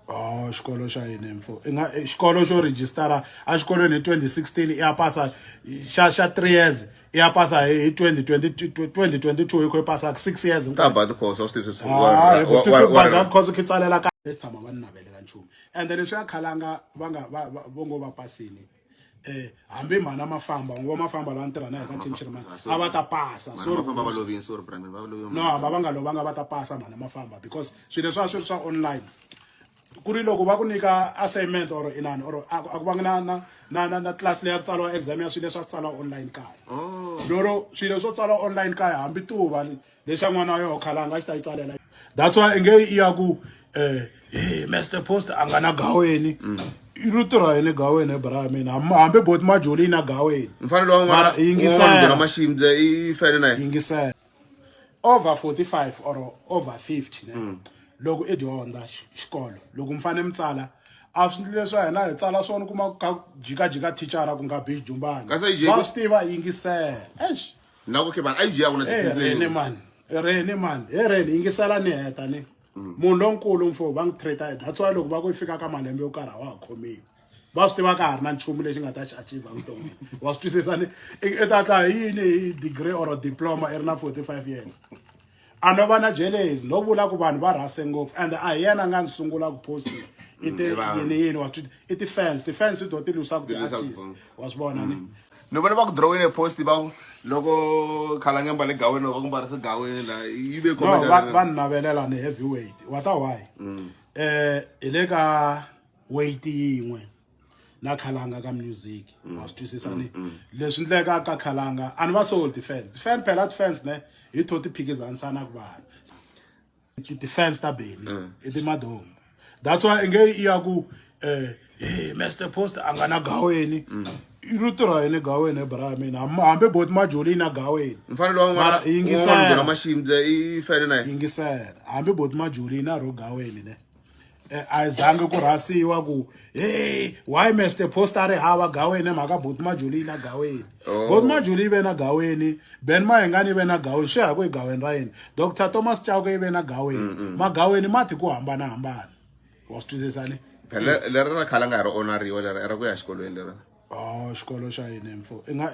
Oh, xikolo xa yini mfo i nga eh, xikolo xo rejistara a xikolweni hi 2016 i ya pasa xa xa 3 years i ya pasa hi 2022 yi kho yi pasa 6 years hinkabad course a swi tivi sweswiwabada course khi tsalela ka lesi tshama va ni navelela nchumu ende leswi ya khalanga va nga va ngo va pasini eh hambi mhana mafamba ngo mafamba la ntirha na hi ka ntshimshiri mani a va ta pasa sorry mafamba va lovini sorry prime va lovini no hamba va nga lovanga va ta pasa mhana mafamba because swilo leswi a swi ri swa online ku ri loko va ku nyika assignment or inani or a ku vanga na na na na na class leyi ya ku tsariwa exam ya swilo leswi a swi tsariwa online kaya oh. lero swilo swo tsariwa online kaya hambi tuva lexa n'wana wa yoho khalanga a xi ta yi tsalela that's why inge i ya ku um e master post a nga na gaweni i ri tirha yini gaweni hi bra ya mina Ham- hambi boti majoli yi na gaweni mfanelo wa Mara, yingisela. n'wanwanuna maximdze i fene na yena yingisela over 45 or over 50 ne loko i dyondza xi- xikolo loko mi fane mi tsala a swi ndlile swa hina hi tsala swona kuma ka jikajika thichara ku nga bish jumbana Kasi a yi jiki- va swi tiva yingisela eish na ku ke vanhu a yi jiyaka na Eh, rene tisindzeni man rene man he rene yingisela ni heta ni munhu lonkulu mfo va n'wi treata that's why loko va ku yi fika ka malembe yo karhi a wa ha khomiwi va swi tiva ka ha ri na nchumu lexi nga ta xi achieve vuton'wini wa swi twisisa ni i i ta tla hi yini hi degree or diploma i ri na 45 years a no va na jelezi no vula ku vanhu va rhase ngopfu and a hi yena a nga ni sungula ku posta i ti yini yini wa swi i ti-fans ti-fans to ti lwisa ku ti-artist wa swi vona ni ni vona va ku drawini e post va ku loko khalange mbale gaweni loko va ku mbarisa gaweni la yi ve no va va ni navelela ni heavy weight wa ta why um hi le ka weight yin'we na khalanga ka music mm. wa swi twisisa ni mm, mm. leswi ndleka ka khalanga a ni va soul defense defense phela defense ne hi tho ti phikizanisa na ku vanhu ti defense ta beni i ti madomu that's why nge i ya ku eh hey Mr Post a nga na gaweni i ri tirha yini gaweni hi bra mina hambi bot majoli na gaweni mfanelo wa n'wana yingisela mashimdze i fene na yingisela hambi bot majoli na ro gaweni ne eh, a yi zangi ku rhasiwa ku hey why mr post a ri hava gaweni hi mhaka boti majuli yi na gaweni oh. boti majuli yi ve na gaweni ben mahengani yi ve na gaweni swi ya ku egaweni ra yini dr thomas chauke yi ve na gaweni mm -mm. magaweni mati ku hambanahambana wa swi twisisani leri ra khala nga ha ri onariwa leri ra ku ya xikolweni leri o oh, xikolo xa yini mfo i nga